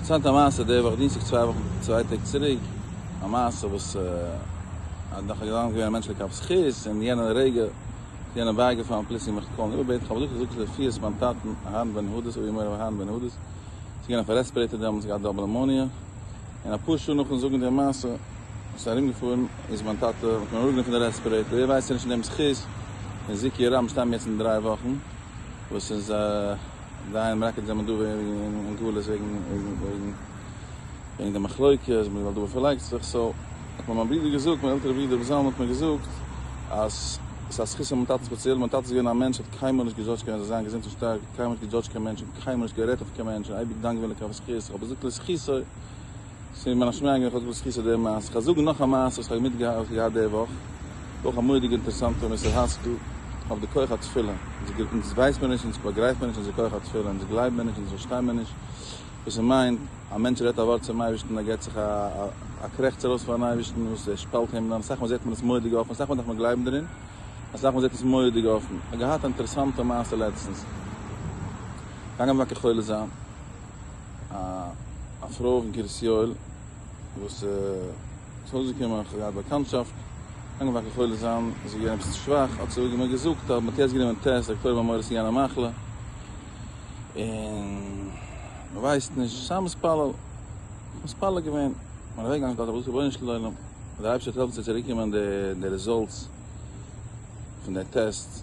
פארציילט א מעשה די וואך דינסטאג צוויי טעג צוריק, א מעשה וואס אז נאך א געוואנדן געווען א מענטש לכף זכות און יענע רגע איז יענעם בייגעפאלן פלוצלינג מיך צו קאלן איבער בעטן כ'האב געזאגט כ'זוך רפואות מיין טאטן אהרן בן הודס אבי מורי אהרן בן הודס איז געווען אויף א רעספערעיטער דעמאלטס געהאט דאבל נעמאניע און אפאר שעה נאכן זאגן די מעשה איז ארומגעפארן איז מיין טאטע מ'האט אים אראפגענומען פון די רעספערעיטער ווער ווייסט נישט אין דעם זכות פון זיקיע רב מ'שטייט מיר יעצט אין דריי וואכן וואס איז די איינע מלקט זענען דא אין גלות וועגן די מחלוקת אז מען ווייל דא פארלייגט זיך סאו האט מיר מיין ברודער געזאגט מיין עלטערע ברודער רבי זלמן האט מיר געזאגט אז ס'איז א זכות פון מיין טאטן ספעציעל מיין טאטע איז געווען א מענטש האט קיינמאל נישט געדזשאדזשט קיינעם זאל זיין געזונט און שטארק קיינמאל נישט געדזשאדזשט קיין מענטש און קיינמאל נישט גערעדט אויף קיין מענטש און אייביג דאנק געווען לקח וזכות איך האב געזאגט לזכותו ס'איז מיר ממש מיינגעלעך אויס וואס כיסא דער מעשה. כ'האב זאגן נאך א מעשה וואס כ'האב מיטגעהאלט געהאט די וואך. אויך א מורא'דיגע אינטערעסאנטע ווען מ'איז האסט דא אויף די כח התפילה. אונז אונז ווייסט מיר נישט, אונז באגרייפט מיר נישט אונזער כח התפילה, אונז גלייבן מיר נישט, אונז פארשטיין מיר נישט וואס ס'מיינט א מענטש רעדט א ווארט צום אייבערשטן ער געט זיך א א קרעכצער אויס פארן אייבערשטן וואס ער שפאלט הימלען. אסאך מאל זעט מען עס מורא'דיג אפן, אסאך מאל דארף מען גלייבן דערין, אסאך מאל זעט עס מורא'דיג אפן. כ'האב געהאט א אינטערעסאנטע מעשה לעצטנס. געגאנגען וואקער חולה זיין. א פרוי אין קרית יואל וואס איז ארויסגעקומען איך האב געהאט באקאנטשאפט לאנגע וואכן חולה זיין איז געווען עפעס שוואך האט זי מיר געזאגט אז מען האט יעצט גענומען טעסט דאקטוירים האבן מורא צו גיין א מחלה און מען ווייסט נישט סיי מתפלל איך מתפלל געווען און אוועק געגאנגען געזאגט רבונו של עולם דער אייבערשטער וועט העלפן ס'וועט צוריק קומען די רעזאלטס פון די טעסט.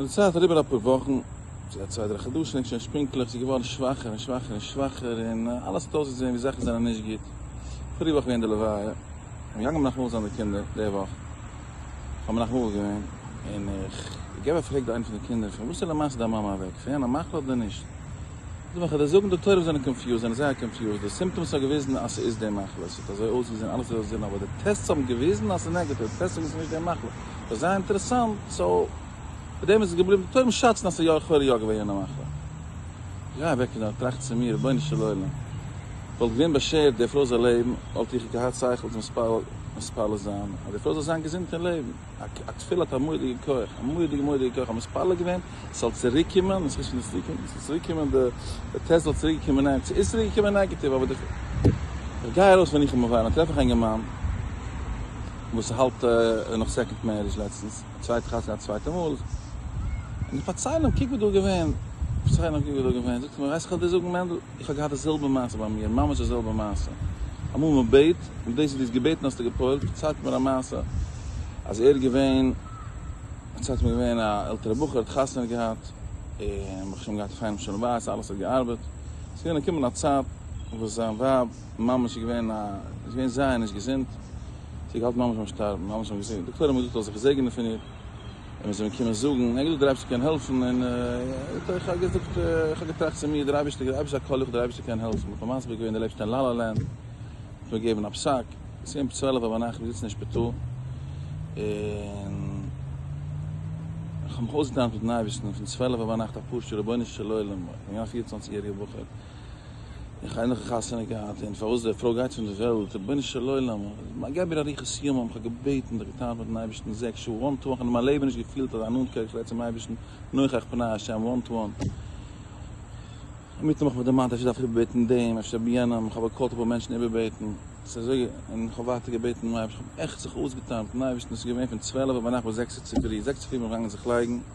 מיט די צייט אריבער אפאר וואכן, צו א צוויי דריי חדשים ענק שוין שפינקלעך, ס'איז געווארן שוואכער און שוואכער און שוואכער, און אלעס האט אויסגעזען ווי זאכן זענען נישט גוט, פאריגע וואך געווען די לוויה, און מיר גאנגען מנחם זיין די קינדער, די וואך האט מנחם אבא געווען, און איך געב א פרעג די איינע פון די קינדער, פון וואס איז למעשה דיין מאמע אוועק, פון יענע מחלה אדער נישט? די וועלכע דאס זאגן די תורה זענען קאנפיוזד, זענען זייער קאנפיוזד, די סימפטאמס האבן געוויזן אז ס'איז די מחלה, ס'האט אזוי אויסגעזען, אלעס איז אויסגעזען, אבער די טעסטס האבן געוויזן אז ס'איז נעגאטיוו, די טעסטס זאגן אז ס'איז נישט די מחלה, ס'איז דאך זייער אינטערעסאנט, סאו מיט דעם איז עס געבליבן, די תורם שאצן אז ס'איז יא לכאורה יא געווען יענע מחלה. איך גיי אוועק פון דארט, טראכט צו מיר, רבונו של עולם, וואלט געווען באשערט די פרוי זאל לעבן, וואלט איך געהאט שכל צו מתפלל זיין אז די פרוי זאל זיין געזונט און לעבן? א תפילה האט א מורא'דיגע כח, א מורא'דיגע מורא'דיגע כח, האבן מתפלל געווען ס'זאל צוריק קומען, און ס'איז שוין נישט צוריק געקומען, ס'איז צוריק געקומען די די טעסט זאל צוריק געקומען ניין ס'איז צוריק געקומען נעגעטיוו אבער די איך גיי ארויס ווען איך האב מובייל און טרעף איך א אינגערמאן וואס האלט און נאך סעקאנד מערידזש לעצטנס צווייטע חתונה א צווייטע מאל און איך פארצייל אים קוק וואס דא געווען איך פארצייל אים קוק וואס דא געווען זאגט ער מיר ווייסט איך וועל דיר זאגן מענדל איך האב געהאט די זעלבע מעשה ביי מיר, ממש די זעלבע מעשה, אמאל מען בעט, מיט דאס וואס דו האסט געבעטן האסטו גע'פועל'ט, פארציילט מיר א מעשה, אז ער איז געווען, פארציילט מיר געווען א עלטערע בחור האט חתונה געהאט, און ברוך השם געהאט א פיינעם שלום בית, אלעס האט געארבעט, עס איז געווען געקומען א צייט וואס זיין ווייב ממש איז געווען א, איז געווען זייער נישט געזונט, זי האט געהאלטן ממש ביים שטארבן, ממש האבן געזאגט, די דאקטוירים האבן געזאגט איך זאל זיך זעגענען פון איר. און מיר זענען געקומען זאגן, ענגעלע דער אייבערשטער קען העלפן, און איך האב געזאגט, איך האב געטראכט צו מיר, דער אייבערשטער געבט אייביג א קול לכה דער אייבערשטער קען העלפן, איך בין מסביר געווען דער לעבסט אין לאלא לענד, איך בין געגעבן א פסק, עס איז געווען צוועלף אויף ביינאכט, מיר זיצן אין שפיטאל, און איך האב מיך אויסגעטענה'ט מיטן אייבערשטן, פון צוועלף אויף ביינאכט א פשוט'ער רבונו של עולם, א יונגער פיר און צוואנציג יעריגער בחור, איך האב ענליכע חתונה געהאט און פארוואס די פרוי גייט פון די וועלט, רבונו של עולם, געב מיר אריכות ימים, איך האב געבעטן און געטאנצט מיטן אייבערשטן זעקס שעה וואן טו וואן, איך האב אין מיין לעבן נישט געפילט אזא נאנטקייט צום אייבערשטן, נוכח פני השם וואן טו וואן, אינמיטן האב איך מיך דערמאנט אפשר דארף איך איבערבעטן דעם, אפשר יענעם, איך האב געקאלט אפאר מענטשן איבערבעטן, ס'איז אזוי און איך האב ווייטער געבעטן דעם אייבערשטן, איך האב עכט זיך אויסגעטאנצט מיטן אייבערשטן, ס'איז געווען פון צוועלף אויף ביינאכט ביז זעקס צופירי, זעקס צופירי האב איך אנגעהויבן זיך לייגן.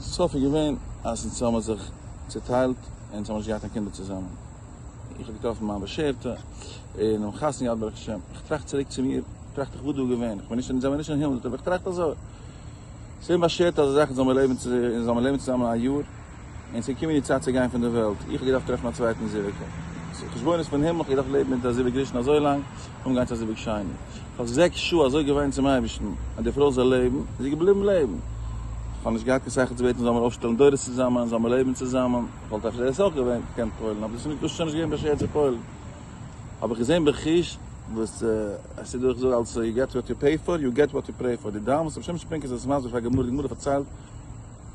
סוף איז געווען אז אונז האבן זיך צוטיילט און אונז האבן נישט געהאט קיין קינדער צוזאמען. איך האב געטראפן מיין באשערטע און האבן חתונה געהאט ברוך השם. איך טראכט צוריק צו מיר, טראכט איך וואס דא איז געווען. איך בין נישט, אונז זעמיר נישט אין הימל, אבער איך טראכט אזוי. ס'איז אומבאשערט אזא זאך אונז זאלן לעבן צוזאמען א יאר. און ס'איז געקומען די צייט צו גיין פון דער וועלט, איך האב געדארפט טרעפן א צווייטן זיווג. חשבונות פון הימל, איך האב געדארפט לעבן מיט דער זיווג ראשון אזוי לאנג, אן גיין צו א זיווג שני. איך האב זעקס שעה אזוי געוויינט צום אייבערשטן אז די פרוי זאל לעבן, און זי איז געבליבן לעבן. איך האב נישט געהאט קיין שכל צו בעטן זאל מיר אויפשטעלן דורות צוזאמען, זאל מיר לעבן צוזאמען. איך וואלט אפשר דאס אויך געווען געקענט פועל'ן, אבער דאס איז נישט שוין געווען באשערט צו פועל'ן. האב איך געזען בחוש וואס עס איז דא, איך זאג אלץ יו געט וואט יו פעי פאר, יו געט וואט יו פרעי פאר. די דיין וואס רבי שמעון שפרינקער זצ ל איז מסביר פאר גמרא, די גמרא פארציילט,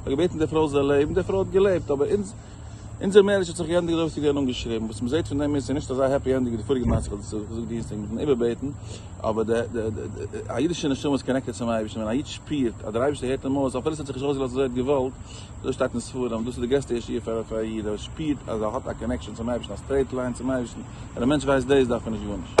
האט געבעטן די פרוי זאל לעבן, די פרוי האט געלעבט, אבער אונזער מערידזש האט זיך געענדיגט אזויווי ס'איז געווען אנגעשריבן, וואס מ'זעט פון דעם איז ס'איז נישט אזא העפי ענדינג ווי די פאריגע מעשה וואס איך האב געזאגט דינסטאג מיטן איבערבעטן, אבער די די א אידישע נשמה איז קאנעקטעד צום אייבערשטן, ווען א איד שפירט אז דער אייבערשטער הערט אים אויס אפילו ס'האט זיך נישט אויסגעלאזט אזוי ער האט געוואלט, אזוי שטייט אין ספרים, דאס איז די גרעסטע ישועה פאר א איד, אז ער שפירט אז ער האט א קאנעקשאן צום אייבערשטן, א סטרעיט ליין צום אייבערשטן, ווען א מענטש ווייסט דאס דארף ער נישט גארנישט.